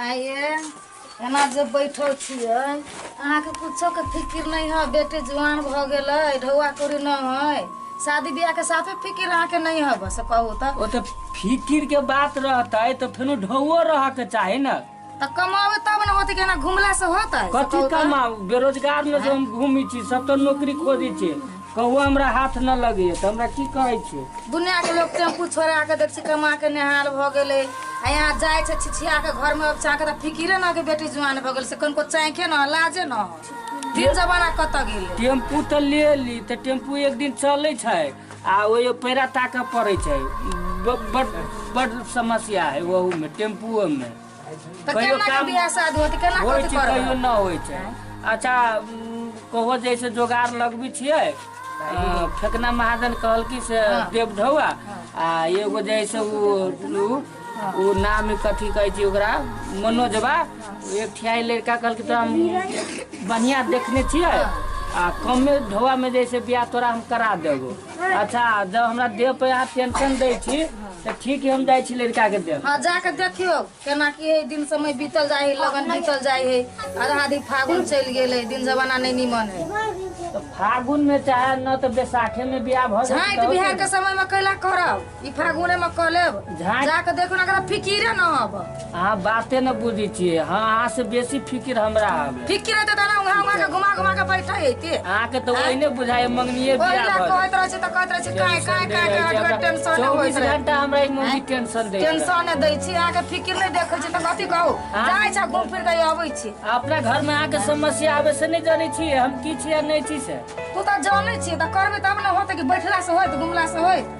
आइए एना जे बैठल छियै अहाँके कुछोके फिकिर नहि है बेटे जुआन भऽ गेलै ढौआ कौड़ी नहि है शादी बियाहके साफे फिकिर अहाँके नहि है बस कहू तऽ ओ तऽ फिकिर के बात रहतै तऽ फेनो ढौओ रहऽ के चाही ने तऽ कमाबै तब ने होतै केना घुमला से होतै से कथी कहू तऽ? कमाउ बेरोजगार में जे हम घूमी छी सब तो नौकरी खोजी छी कहू हमरा हाथ न लगे तऽ हमरा की कहै छी दुनिया के लोग टेम्पू छोड़ा के देख छी कमा के नेहाल भऽ गेलै आ यहाँ जाइ छै छिछिया के घर में चाह के तऽ फिकिरे न के बेटी जुआन भऽ गेल से कनको चाँखे न लाजे न दिन जमाना कतऽ गेलै टेम्पू तऽ ले ली तऽ टेम्पू एक दिन चलै छै आ ओहियो पैरा ताकऽ पड़ै छै ब- बड बड समस्या है ओहू में टेम्पुओ में तऽ कहियो केना काम- बियाह शादी होत केना होइ कथी छै कहियो करबै न होइ छै अच्छा उम, कहो जैसे जोगाड़ लगबै छियै अ, फेकना महाजन कहलकी से देव ढौआ आ एगो जैसे उ उ ओ नाम कथी कहै छै ओकरा मनोजबा एकठियाइ लड़का कहलकै तोरा हम बढ़िआँ देखने छियै आ कमे ढौआमे जे छै बियाह तोरा हम करा देबो अच्छा जब हमरा देह पर अहाँ टेंशन दै छी तऽ ठीक है हम जाइ छी लड़काके देह हाँ जाके देखियो केना की है दिन समय बीतल जाए है लगन बीतल जाए है आधा आधी फागुन चल गेल है दिन जमाना नहीं निमन है तऽ फागुनमे चाहे न तऽ बैसाखेमे बियाह भऽ झाँटि बिहार के समय में कैला करब ई फागुने में कह लेब झाँट। जाके देखो ना करा फिकिरे न अब अहाँ बाते न बुझै छियै हाँ अहाँ से बेसी फिकिर हमरा हवे फिकिर रहते तना उहाँ उहाँ के घुमा घुमा के बैठे हेते अहाँके तऽ वही ने बुझाय मंगनिये ओहि बियाह ला भऽ कहैत रहै छै तऽ कहैत रहै छै काहे काहे काहे काहे हमरा टेंशन नहि होइत चौबीस रहै घंटा हमरा ई मौगी टेंशन दै छै। टेंशन नहि दै छी अहाँके फिकिर नहि देखै छी तऽ कथी कहू हाँ। जाइ छै घूम फिर के अबै छी अपना घर में अहाँके समस्या आबे से नहि जानै छी हम की छी आ नहि छी से तू तऽ जानै छी तऽ करबै तब ने होतै कि बैठला से होइत घुमला से होइत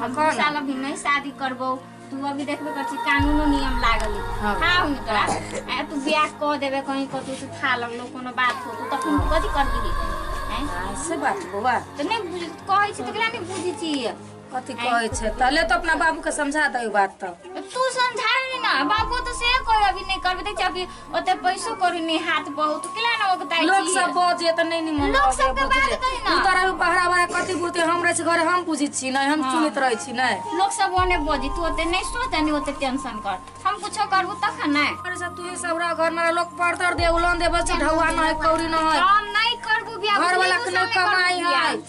हम कह ना। साल अभी नहीं शादी करबो तू अभी देखबे कर छी कानूनो नियम लागल है। हाँ। हाँ हुन तोरा आ तू ब्याह कह देबे कहीं कतौ से था लगलो कोनो बात हो तू तखन तू कथी कर दिही हैं हाँ, से बात बौआ तो नहीं बुझ कहै छी तकरा नहीं बुझी छी कथी कहै छै तले तो अपना बाबू के समझा दे बात तो तू समझा नहीं ना बाबू तो से कोई अभी नहीं करबे देख अभी ओते पैसो करू ने हाथ बहुत केला ना ओकताई लोग सब बजे त नहीं निमन लोग लगे, सबके बुझले। बात कही ना। तू तोरा भी बहरा बहरा कथी बुझते हम रहे छी घर हम बुझी छी नहीं हम सुनित रहे छी नहीं लोग सब ओने बोजी तू ओते नहीं सोच नहीं ओते टेंशन कर हम कुछो करबू तखन ना अरे सब तू सब रह घर में लोग पड़तर दे उलन दे बस ढौआ नहीं कौड़ी नहीं हम नहीं करबू बियाह घर वाला बुझलियै, के तू सब नहीं नहीं करबू कमाई बियाह। है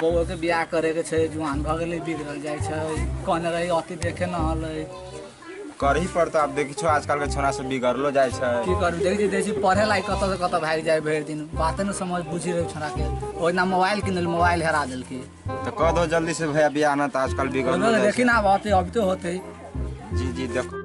बौआके बियाह करैके छै जुआन भऽ गेलै बिगड़ल जाइ छै कहने रही अति देखे न हलै करही पड़तौ आब देखै छौ आजकलके छोरा सब बिगड़लो जाइ छै की करू देखै छी देखै छी पढ़े लायक कतऽसँ कतऽ भागि जाइ भरि दिन बाते नहि समझ बुझि रहै छोराके ओहिना मोबाइल किनल मोबाइल हेरा देलकै तऽ कह दो जल्दी से भैया बियाह ना तऽ आजकल बिगड़लो ओहिमे जाइ देखी छै ना आब अति अबिते होतै जी जी देखो